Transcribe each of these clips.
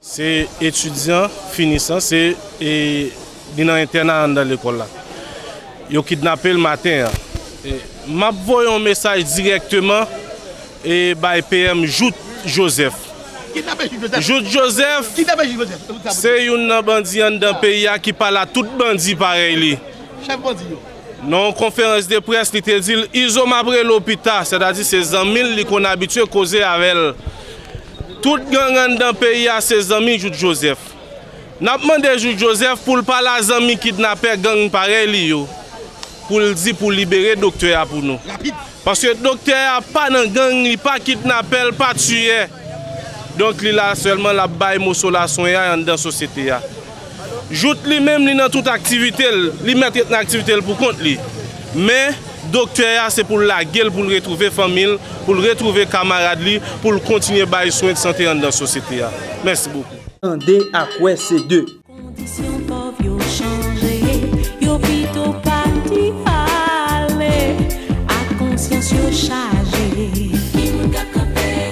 Se etidyan finisan se li nan entèna anndan lekòl la. Yo kidnape l maten an. M ap voye yon mesaj dirèkteman bay PM Jout Jozèf. Jout Jozèf se youn nan bandi anndan peyi a ki pale a tout bandi parèy li. Nan yon konferans de près li te di l Izo m ap rele w pita, sètadi se zanmi l li konn abitye koze avè l. Tout gang anndan peyi a se zanmi Jout Jozèf. N ap mande Jout Jozèf pou l pale a zanmi kidnapè gang parèy li yo pou l di pou libere doktè a pou nou. Paske doktè a pa nan gang, li pa kidnapè, l pa tiyè. Donk li la sèlman l ap bay moso laswenyay anndan sosyete a. Jout li menm li nan tout aktivite l, li mèt ret nan aktivite l pou kont li. Men, doktè a se pou l lage l pou l retwouve fanmi l, pou l retwouve kamarad li, pou l kontinye bay swen de sante anndan sosyete a. Mèsi bokou. Tande ak wè se de. Kondisyon pòv yo chanje, yo pito pati ale ak konsyans yo chaje.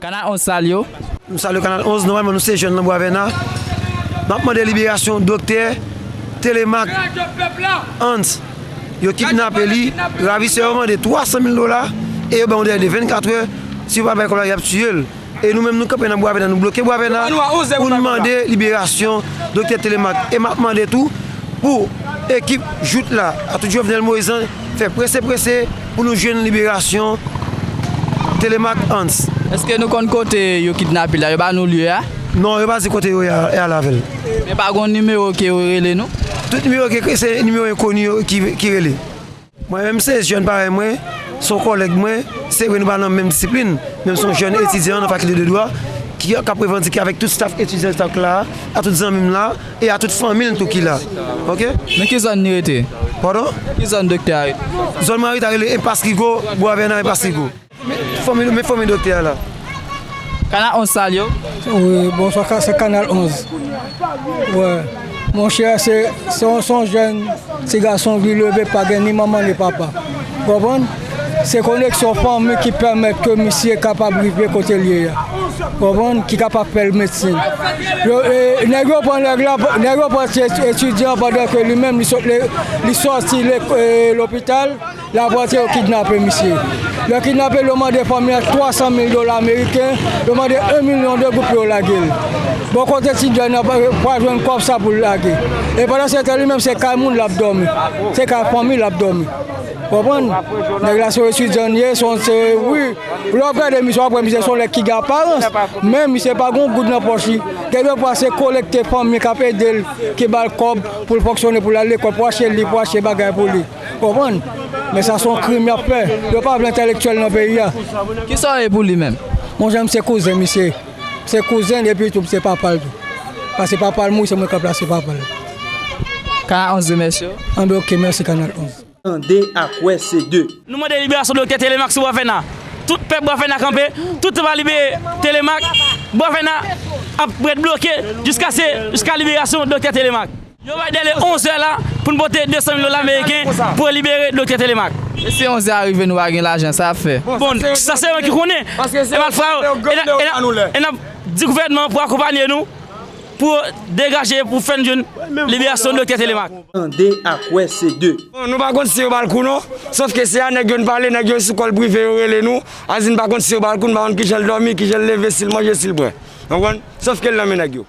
Kanal 11 sal yo. Nou salye kanal 11, nòmalman nou se jèn lan bwa vèna, map mande liberasyon doktè telemak Hans yo kidnape li, ravisè yo mande 300 mil dola e yo bay yon dèle de 24 è si yo pa bay kòb la yap tiyel e nou menm nou kanpe nan bwa vèna nou bloke bwa vèna poun mande liberasyon doktè telemak e map mande tou pou ekip jout la a tout jovenel moise lan Fè prese prese pou nou jwenn liberasyon Thélémaque Hans. Eske nou konn kote yo kidnapel la yo ba nou lye a? Non yo pa di kote yo ye al avèl. Men pa gon nimewo ke yo rele nou? Tout nimewo ke se nimewo enkoni yo ki rele. Mwen menm se jèn parèy mwen, se yon kòlèg mwen, se vre nou pa nan menm disiplin, men m se yon jèn etidyan nan fakilte de dwa ki ap revandike avèk tout staf etidyan staf la a, ak tout zanmi m la. E a tout fanmi l tou ki la ok. Nan ki zòn li rete? Pardon? Ki zòn doktè a rete? Zòn mwen rete a rele Enpas Rigo, Bwa Vè nan Enpas Rigo. Men fanmi doktè a la. Kanal 11 sal yo? Wi, bonswa se kanal 11. Wè monchè se yon jèn ti gason ki leve pa gen ni manman ni papa. Ou konprann? Se koneksyon fanmi ki pèmèt ke misye kapab rive kote l ye a. Ou konprann? Ki kapab fè l medsin. Yo, e, nèg yo pran nèg la, nèg yo pran ti etidyan pandan ke li menm li sot le, li sòti le, e, lopital, l ap rantre yo kidnape misye. Lè yo kidnape l, yo mande fanmi an 300 mil dola ameriken, yo mande 1 milyon de goud pou yo lage l. Bon kot etidyan nan pa, pral jwenn kòb sa pou l lage? E pandan se tan li menm se kay moun l ap dòmi. Se kay fanmi l ap dòmi. Konprann? Nèg la se yon etidyan ye, se yon se wi. Lè wap gade misye wap wè misye se yon nèg ki gen aparans, men misye pa gen yon goud nan pòch li. Gen de fwa se kolekte fanmi kap ede l, ki ba l kòb pou l fonksyone, pou l al lekòl, pou achte liv, pou achte bagay pou li. Konprann? Men sa se yon krim yap fè. Yo pa vle entèlektyèl nan peyi a. Kisa w ye pou li menm? Monchè m se kouzen misye. M se kouzen l epi tou m se papa l tou. Pase papa l mouri se mwen kap plase papa l. Kanal 11 remèsye w. Anben ok, mèsi kanal 11. Tande ak wè se de. Nou mande liberasyon Doktè Telemaque sou Boisvena. Tout pèp Boisvena kanpe, tout sa pa libere Telemaque, Boisvena ap ret bloke jiskase jiska liberasyon Doktè Telemaque. Yo bay dèle 11 è la pou n pote 200 mil dola meriken pou libere Doktè Telemaque. E si 11 è a rive nou pa gen lajan sa ap fè? Bon, sa se yo ki konnen. E malfra yo, e n ap di gouvènman an pou akonpanye nou. Pou degaje pou fèn jwenn liberasyon Doktè Telemaque. Tande ak wè se de. Bon nou pa konn si yo bal kou non sof ke se a nèg yo n pale nèg yo sou kòl prive yo rele nou a di n pa konn si yo bal kou n pa konn kijan l dòmi kijan l leve si l manje si l bwè nou konprann sof ke l nan men nèg yo.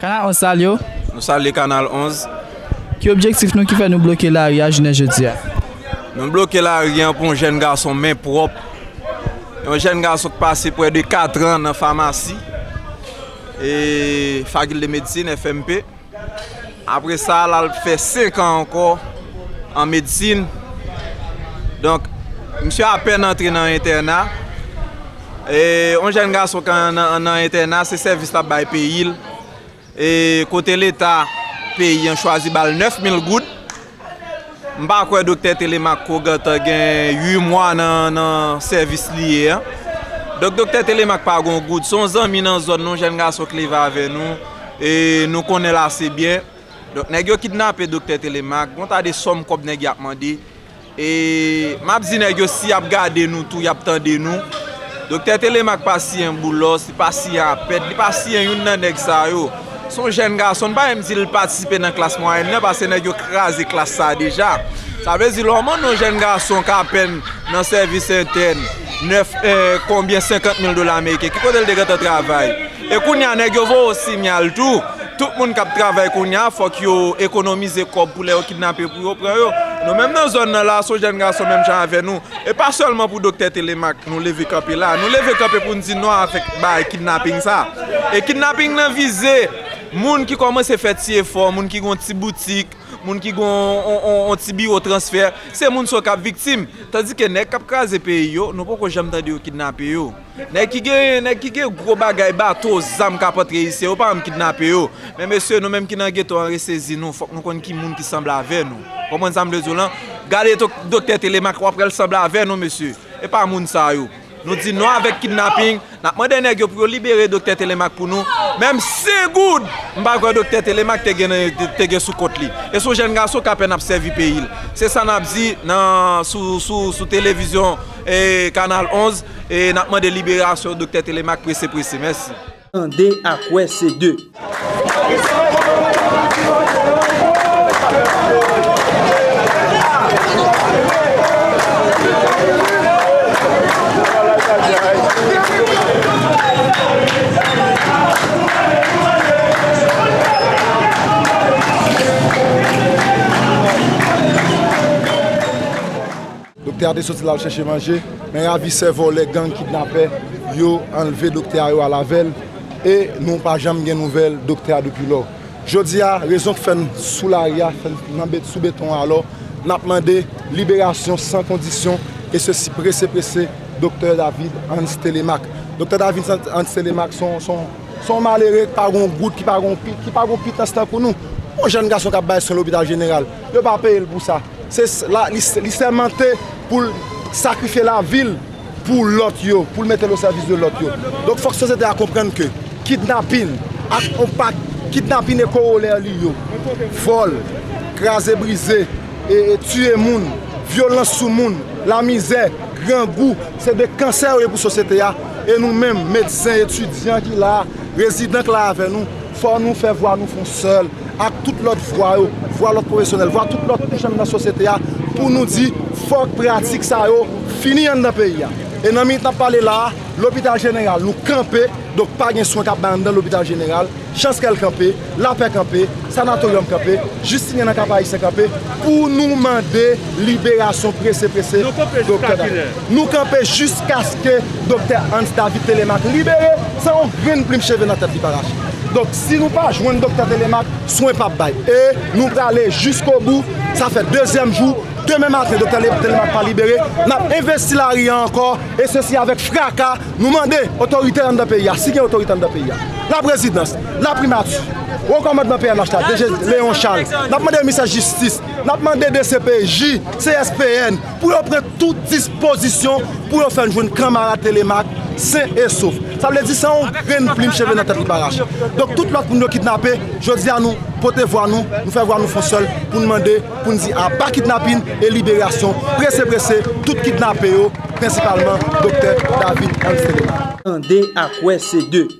Kanal 11 salye w! Nou salye Kanal 11! Ki objektif nou ki fè nou bloke lari a jounen jodi a? Nou bloke lari an pou yon jèn gason men pwòp, yon jèn gason ki pase pwè de katran nan famasi, fakilte medsin, FMP. Apre sa l al fè senkan ankò an medsin. Donk, misye apèn antre nan entèna. Yon jèn gason kan nan entèna se sèvis l ap bay peyi l e kote leta peyi an chwazi ba l 9000 goud m pa kwè doktè Télémaque ko gentan gen 8 mwa nan sèvis li ye an donk doktè Télémaque pa gon goud son zanmi nan zòn nan yon jèn gason k leve avè nou e nou konnen l ase byen donk nèg yo kidnape doktè Télémaque gon ta de sòm kòb nèg y ap mande E map di nèg yo si yap gade nou tou yap tande nou Doktè Télémaque pa siyen Boulos li pa siyen Apèd li pa siyen youn nan nèg sa yo son jèn gason nou pa menm di li patisipe nan klas mwayèn nan pase nèg yo kraze klas sa deja sa vle di kòman yon jèn gason k apèn nan sèvis entèn 9 konbyen 50 mil dola ameriken ki kote li te gentan travay. E kounya nèg yo voye w sinyal tou, tout moun kap travay kounya fòk yo ekonomize kòb pou lè yo kidnape pou yo pran yo. Nou menm nan zòn nan la son jèn gason menm jan avè nou, e pa sèlman pou Doktè Thélémaque nou leve kanpe la, nou leve kanpe pou n di non avèk bagay kidnaping sa. E kidnaping nan vize moun ki kòmanse fè ti efò, moun ki gen yon ti boutik, moun ki gen yon ti biwo transfè, se moun sa yo kap viktim. Tandike nèg kap kraze peyi yo, nou poko janm tande yo kidnape yo. Nèg ki gen nèg ki gen gwo bagay bato zam kap antre isi yo pa janm kidnape yo men mesye nou menm ki nan geto an resezi nou fòk nou konn ki moun ki sanble avè nou ou konprann sa m vle di w lan gade doktè telemak wap wè l sanble avè nou mesye e pa moun sa yo nou di non avèk kidnaping nap mande nèg yo pou yo libere doktè telemak pou nou menm 100 goud m pa kwè doktè telemak te gen te gen sou kont li e son jèn gason k apèn ap sèvi peyi l se sa nap di nan sou sou sou televizyon Kanal 11 e nap mande liberasyon Doktè Telemaque prese prese. Mèsi. Tande ak wè se de. Doktè a te soti lal chèche manje, men ravisè, vòlè, gang, kidnapè yo anlve doktè a yo al avè l e nou pa janm gen nouvèl doktè a depi lò. Jodi a, rezon k fè n sou lari a, fè n sou beton an alò, n ap mande liberasyon san kondisyon e sesi prese prese doktè David Hans Thélémaque. Doktè David Hans Thélémaque se yon malere k pa gen yon gout, ki pa gen yon pitans tankou nou. Yon jèn gason k ap bay swen lopital jeneral. Yo pa peye l pou sa. Li sèmante pou l sakrifye lavi l pou lòt yo, pou l mete l osèvis de lòt yo. Donk fòk sosyete a konprann ke kidnapin ak yon pak, kidnapin e kowolè li yo, vòl, kraze brize, tiye moun, vyolans sou moun, lamizè, grangou, se de kansè yo ye pou sosyete a. E nou menm, medsen, etidyan ki la a, rezidan k la avè nou, Fò nou fè vwa nou fon sèl ak tout lòt vwa yo, vwa lòt pwofesyonèl, vwa tout lòt kouch anndan sosyete a pou nou di fòk pratik sa yo fini anndan peyi a. E nan minit n ap pale la a, lopital jeneral nou kanpe, donk pa gen swen k ap bay anndan lopital jeneral, Chanskèl kanpe, Lapè kanpe, Sanatoryòm kanpe, Jistinyen nan Kap Ayisyen kanpe pou nou mande liberasyon prese prese Doktè Daniel. Nou kanpe jiskaske Doktè Hans David Télémaque libere san yon grenn plim cheve nan tèt li pa rache. Donk, si nou pa jwenn Doktè Télémaque, swen pap bay. E, nou prale jiskobou, sa fè dezyèm jou, demen maten Doktè Télémaque pa libere, n ap envesti lari a ankò, e sesi avèk fraka, nou mande otorite anndan peyi a, si gen otorite anndan peyi a, Laprezidans, Laprimati, Wo Kòmandman pnh la, DG Léon Charles, n ap mande Misè Jistis, n ap mande dcpj, CSPN, pou yo pran tout dispozisyon pou yo fè n jwenn kanmarad Thélémaque sen e sof. Sa vle di san yon grenn plim cheve nan tèt li pa rache. Donk tout lòt moun yo kidnape, jodi a nou pote vwa nou, nou fè vwa nou fon sèl pou n mande, pou n di aba kidnapin e liberasyon prese prese tout kidnape yo, prensipalman Doktè David Ernst Thélémaque. Tande ak wè se de.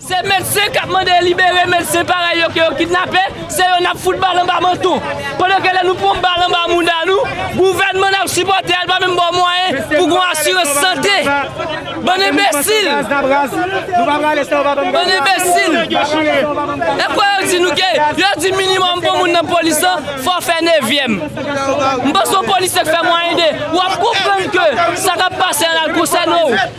Se medsen kap mande libere medsen parèy yo ke yo kidnape, se yo nap fout bal anba manton. Pandan ke lè nou pran bal anba mouda nou, gouvènman nap sipòte a li pa menm ba w mwayen pou gon asirans sante. Bann enbesil! Bann enbesil! E fwa yo di nou ke yo di minimòm pou moun nan polis lan fò w fè nevyèm. M panse yon polisye k fè mwayende wap konprann ke sa kap pase an la l konsène w.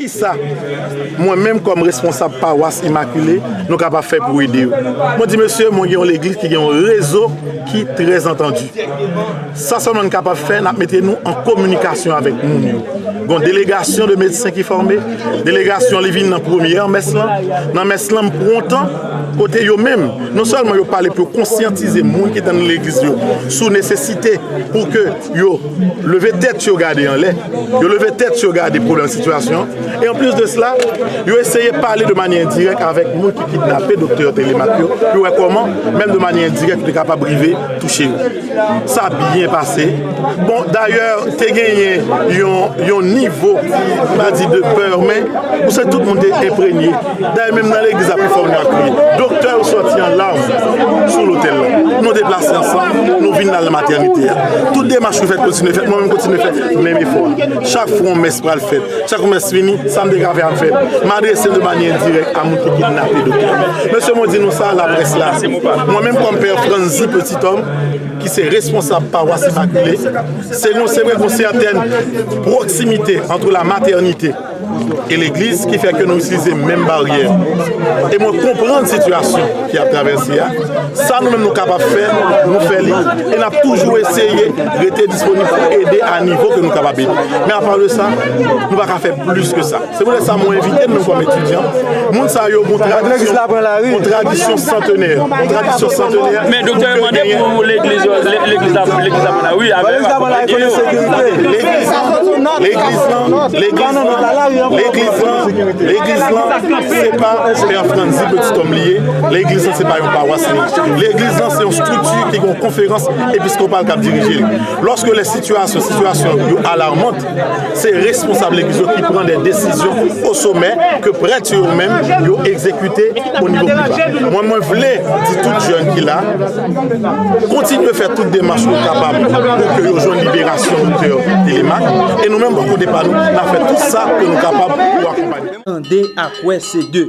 Kisa mwen menm kòm responsab pawas imakile nou kapab fè pou ede yo? Mwen di mesye mwen gen yon legliz ki gen yon rezo ki trè antandi. Sa sèlman n kapab fè n ap mete nou an kominikasyon avèk moun yo. Gon delegasyon de medsen ki fòme, delegasyon li vin nan premyè mès lan, nan mès lan m pran tan. kote yo menm non sèlman yo pale pou yo konsyantize moun ki nan legliz yo sou nesesite pou ke yo leve tèt yo gade anlè, yo leve tèt yo gade pwoblèm sitiyasyon e anplis de sela yo eseye pale de manyè endirèk avèk moun ki kidnape Doktè Telemaque yo pou yo wè kòman menm de manyè endirèk li kapab rive touche yo. Sa byen pase. Bon, dayè, te genyen yon nivo, m pa di de pè, men, ou se tout moun te enpregne. Dayè, menm nan legliz la, pi fò moun ap kriye. Doktè yo sòti an larm sou lotèl la. Nou deplase ansanm, nou vin nan matènite a. Tout demach ki fèt kontinye fèt, mwen menm kontinye fè menm efò a. Chak fwa yon mès pral fèt, chak yon mès fini, sa m te ka fè, m fè. M adrese de manyè endirèk a moun ki kidnape doktè. Mesye mwen di nou sa, laprès la, mwen menm kòm pè Franzi Peti. Tom, ki se responsab pawas Imakile, se yon se vre gon sèten pwoksimite antre la matènite e legliz ki fè ke nou itilize menm baryè. E mwen konprann sitiyasyon ki ap travèse a, sa nou menm nou kapab fè, nou fè li e n ap toujou eseye rete disponib pou ede a nivo ke nou kapab ede. Men apa de sa, nou pa ka fè plis ke sa. Se poutèt sa mwen envite nou kòm etidyan, moun sa yo gon tradisyon santenè. Men doktè yo mande pou legliz yo, legliz la pran lari wi, avè yo akonpanye yo. Legliz la pran lari wi, legliz la pran lari wi, legliz la se pa pè franzi peti kòm li ye, legliz la se pa yon pawas li ye. Legliz la se yon strikti ki gon konferans episkopal kap dirije li. Lòske lè sitiyasyon, sitiyasyon yo alarmant, Se responsab legliz yo ki pran de desizyon o somè ke prèt yo menm yo egzekite o nivo pi ba. Mwen mwen vle di tout jèn ki la, kontinye fè tout demach nou kapab pou ke yo jwenn liberasyon Doktè Telemaque e nou menm bò kote pa nou, n ap fè tout sa ke nou kapab pou akonpanye. Tande ak wè se de.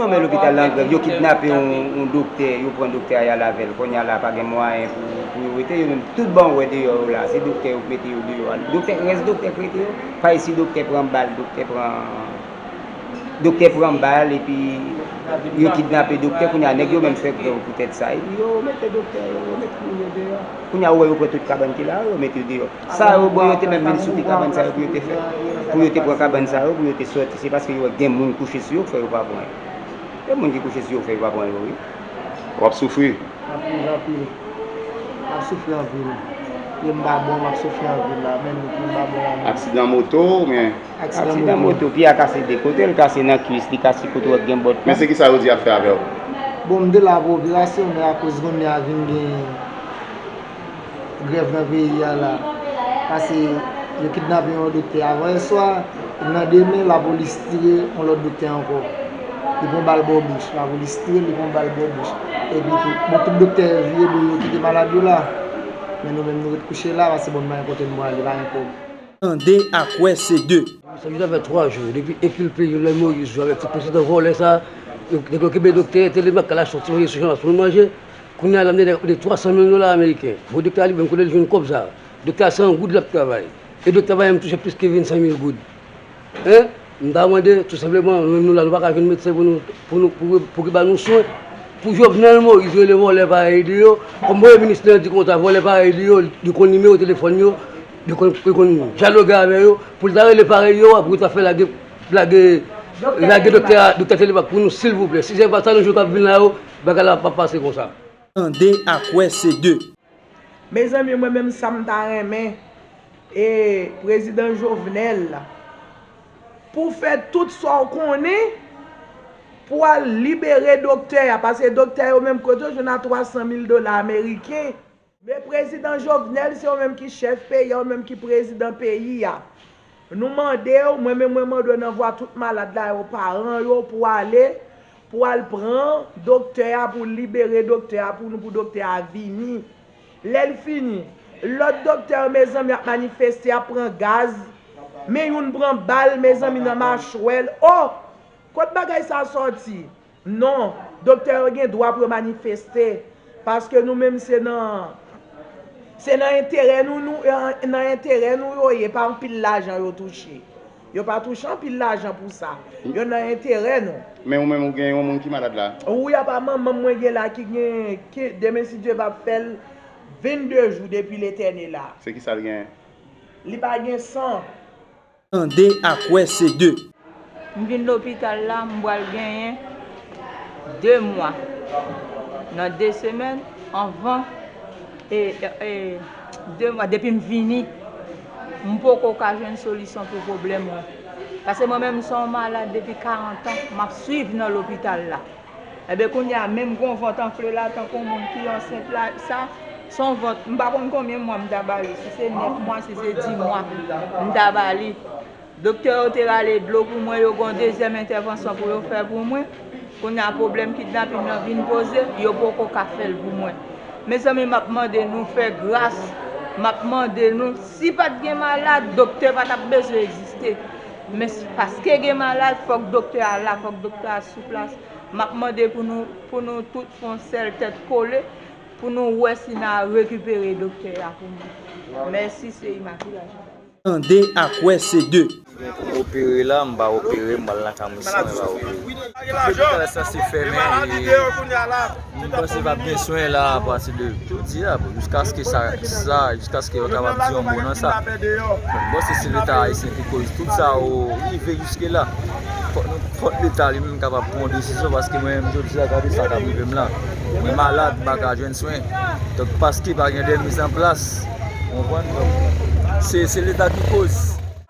Non men lopital la angrèv, yo kidnape yon doktè, yo pran doktè a yal avèl, konnya la pa gen mwayen pou yo wete yo menm, tout ban wè deyò yo la, se doktè yo k mete yo deyò a, doktè, rès doktè k rete yo, pay si doktè pran bal, doktè pran, doktè pran bal epi yo kidnape doktè, konnya nèg yo menm fè grèv poutèt sa epi yo mete doktè yo, yo met moun yo deyò, konnya ou wè yo pran tout kabann ki la yo, yo met yo deyò. Sa yo bon yo te mèt vin souke kabann sa yo pou yo te fè pou yo te pran kabann sa yo pou yo te sòti se paske yo wè gen moun kouche sou yo k fè yo pa pran yo gen moun ki kouche sou yo k fè yo pa pran yo wi. Wap soufri. Map soufri anpil map soufri anpil pye m pa bon map soufri anpil la men nou pye m pa bon la men. Aksidan moto ou byen. Aksidan moto pye a kase de kotel kase nan kwis li kase kote wap gen bòt la. Men se kisa yo di yap fè avèw. Bon m te la pou operasyon men akoz kounye a vin gen. grèv nan peyi a la pase yo kidnape yon doktè avan yè swa epi nan demen lapolis tire yon lòt doktè ankò li pran bal bò bouch lapolis tire l li pran bal bò bouch epi tou bon tout doktè yo vire do yo kite malad yo la men nou menm nou ret kouche la pase bon nou pa gen kote nou prale pa gen kòb. Tande ak wè se de. Sa vin fè 3 jou depi ekilpe Jovenel Moïse jwe avèk ti prezidan vòlè sa a. Nèg yo kenbe doktè entelemak kalash soti voye sou Jean Las pou l manje. Kounye a Lamine a ka koute 300 mil dola ameriken. Fo doktè a li menm kote li jwenn kòb sa a? Doktè a se an goud l ap travay. E doktè pa janm touche plis ke 25 mil goud. Hein? M ta mande, tou senpleman, menm nou la nou pa ka jwenn medsen pou nou, pou nou, pou, pou ki ba nou swen? Pou Jovenel Moïse rele vòlè parèy li yo, kòm premye minis li an di konsa, vòlè parèy li yo, li konn nimewo telefòn yo, li konn, li konn dyaloge avè yo, pou l ta rele parèy yo a pou yo ta fè lage, lage, lage doktè a, doktè Telemak pou nou silvouplè? Si se pa sa nou jwenn k ap vin la yo, Bagay la pa pase konsa. Tande ak wè se de. Mezanmi mwen menm sam ta renmen e prezidan jovenel pou fè tout sa ou konnen pou al libere doktè a paske doktè yo menm kote yo jwenn a 300 mil dola ameriken Me prezidan jovenel se ou menm ki chef peyi a ou menm ki prezidan peyi a nou mandew mwen menm mwen mandew nan vwa tout malad la yo paran yo pou ale pou al pran doktè a pou libere doktè a pou nou pou doktè a vini lèl fini lòt doktè yo mezanmi ap manifeste yap pran gaz men youn pran bal mezanmi nan machwèl oh kot bagay sa sòti. Non, doktè yo gen dwa pou yo manifeste, paske nou menm se nan, se nan enterè nou nou, nan enterè nou yo ye, pa anpil lajan yo touche. Yo pa touche anpil lajan pou sa. Yo nan enterè nou. Men ou menm ou gen yon moun ki malad la? Wi apa manmanm mwen gen la ki gen, ki demen si Dye va fè l 22 jou depi l etène la. Se ki sa l gen? Li pa gen san. Tande ak wè se de. M vin lopital la m pral genyen 2 mwa nan 2 semèn anvan e e 2 mwa depi m vini m poko ka jwenn solisyon pou pwoblèm mwen pase mwen menm m son malad depi 40 an map swiv nan lopital la. Enben kounya menm gon vant anfle la tankou moun ki ansent la sa son vant m pa konn konbyen mwa m ta bali si se 9 mwa si se 10 mwa m ta bali doktè yo te rale dlo pou mwen yo gon dezyèm entèvansyon pou yo fè pou mwen kounya pwoblèm kidnapin nan vin poze yo poko ka fèl pou mwen mezanmi map mande nou fè gras map mande nou si pat gen malad doktè pa tap bezwen egziste. Men paske gen malad fòk doktè a la, fòk doktè a sou plas. M ap mande pou nou, pou nou tout fè yon sèl tèt kole pou nou wè si n a rekipere doktè a pou nou. Mèsi se Imakila Janbaz. Tande ak wè se 2. Mwen pou m opere la, m pa opere, m pral nan kamoussan mwen va opere. Lopital sa se fèmen e. Moun panse pap gen swen la a pati de jodi a, jiskaske sa, jiskaske yo kapab di yon mo nan sa. Donk bon se si leta ayisyen ki koz tout sa yo rive jiske la. Fòk nou, fòk leta li menm kapab pran yon desizyon paske mwen menm jodi a gade sa kap rive m la. Mwen malad, m pa ka jwenn swen. Donk paske pa gen de mizanplas. Ou konprann? Donk se leta ki koz.